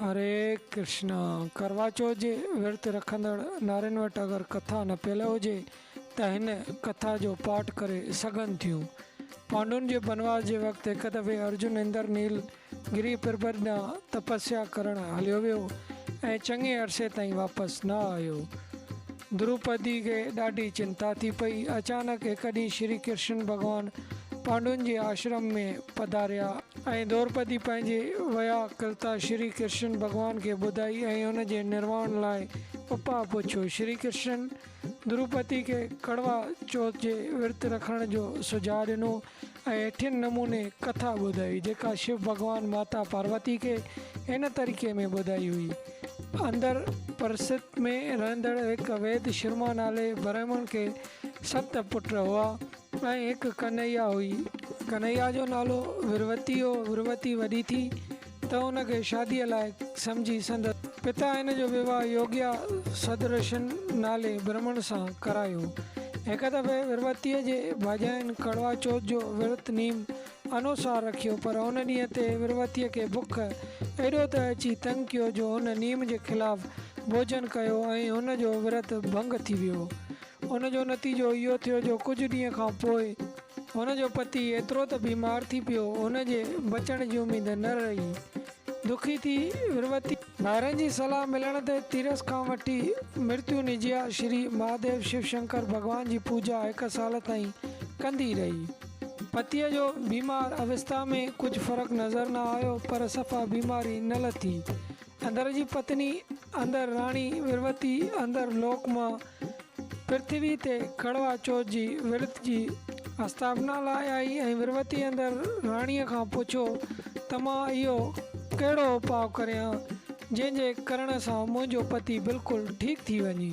هري ڪرشنا. ڪروا چوٿ جي ورت رکندڙ نارين وٽ اگر ڪٿا نه پيل هجي ته هن ڪٿا جو پاٺ ڪري سگهن ٿيون. پانڊون جي بنواس جي وقت هڪ دفعي ارجن اندر نيل گري پربت ڏانهن تپسيا ڪرڻ هليو ويو ۽ چڱي عرصي تائين واپس نه آيو. دروپدي کي ڏاڍي چنتا ٿي پئي. اچانڪ هڪ ڏينهن شري ڪرشن ڀڳوان پانڊون جي آشرم ۾ پڌاريا. ۽ دروپدي پنهنجي ويا ڪلتا شري ڪرشن ڀڳوان کي ٻڌائي ۽ ان جي نرواڻ لاء اپاء پڇيو. شري ڪرشن دروپدي کي ڪڙوا چوٿ جي ورت رکڻ جو سجهاء ڏنو. ۽ هيٺين نموني ڪٿا ٻڌائي، جيڪا شو ڀڳوان ماتا پاروتي کي هن طريقي ۾ ٻڌائي هئي. اندر پرست ۾ رهندڙ هڪ ويد شرما نالي برهمڻ کي ست پٽ هئا ۽ هڪ ڪنهيا هئي. ڪنهيا جو نالو وروتي هو. وروتي وڏي ٿي ته ان کي شاديء لائق سمجهي سندس پتا هن جو ويواهه يوگيا سدرشن نالي برهمڻ سان ڪرايو. هڪ دفعي وروتيء جي ڀاڄاين ڪڙوا چوٿ جو ورت نيم انوسار رکيو پر ان ڏينهن تي وروتيء کي بک ايڏو ته اچي تنگ ڪيو جو هن نيم جي خلاف ڀوڄن ڪيو ۽ هن جو ورت ڀنگ ٿي ويو. ان جو نتيجو اهو ٿيو جو ڪجهه ڏينهن کان پوء هن جو پتي ايترو ته بيمار ٿي پيو هن جي بچڻ جي اميد نه رهي. دکي ٿي وروتي. ڀائرن جي صلاح ملڻ تي تيرس کان وٺي مرتيو نجيا شري مهاديو شو شنڪر ڀڳوان جي پوڄا هڪ سال تائين ڪندي رهي. پتيء جو بيمار اوستا ۾ ڪجهه فرق نظر نه آيو پر صفا بيماري نه لٿي. اندر جي پتني، اندر راڻي وروتي، اندر لوڪ مان پرٿوي تي ڪڙوا چوٿ جي ورت جي آستاپنا لاء آئي ۽ وروتي اندر راڻيء کان پڇيو ته مان اهو ڪهڙو اپاء ڪريان، جنهن جي ڪرڻ سان منهنجو پتي بلڪل ٺيڪ ٿي وڃي.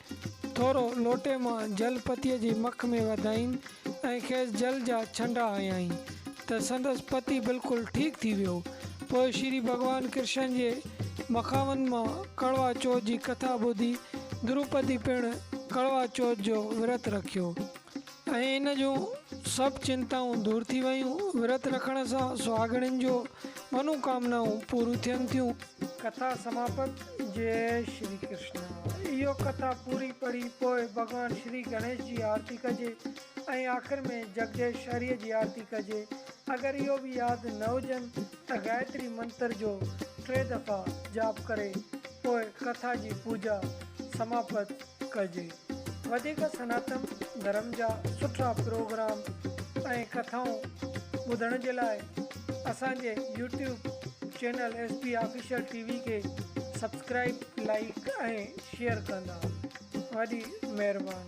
ٿورو لوٽي مان جل پتيء جي مک ۾ وڌائين ۽ کيس جل جا ڇنڊا هنيائين ته سندس پتي بلڪل ٺيڪ ٿي ويو. پوء شري ڀڳوان ڪرشن جي مخاون مان ڪڙوا چوٿ جي ڪٿا ٻڌي دروپدي پڻ ڪڙوا چوٿ جو ورت رکيو. ۽ ان جون سڀ چنتائون دور ٿي ويون. ورت رکڻ سان سهاڳڻين جو منو ڪامنائون پوريون ٿين ٿيون. ڪٿا سماپت جئي شري ڪرشنا اهو ڪٿا پوري پڙهي پوء ڀڳوان شري گڻيش جي آرتي ڪجي ۽ آخر ۾ جڳديش شري جي آرتي ڪجي اگر اهو به ياد نه هجن ته گائتري منتر جو ٽي دفعا جاپ ڪري پوء ڪٿا جي پوڄا سماپت ڪجي. وڌيڪ سناتن ڌرم جا سٺا پروگرام ۽ ڪٿائون ٻڌڻ جي لاء اسان جي YouTube channel S B official T V کي سبسڪرائيب لائيڪ ۽ شيئر ڪندا وڏي مهرباني.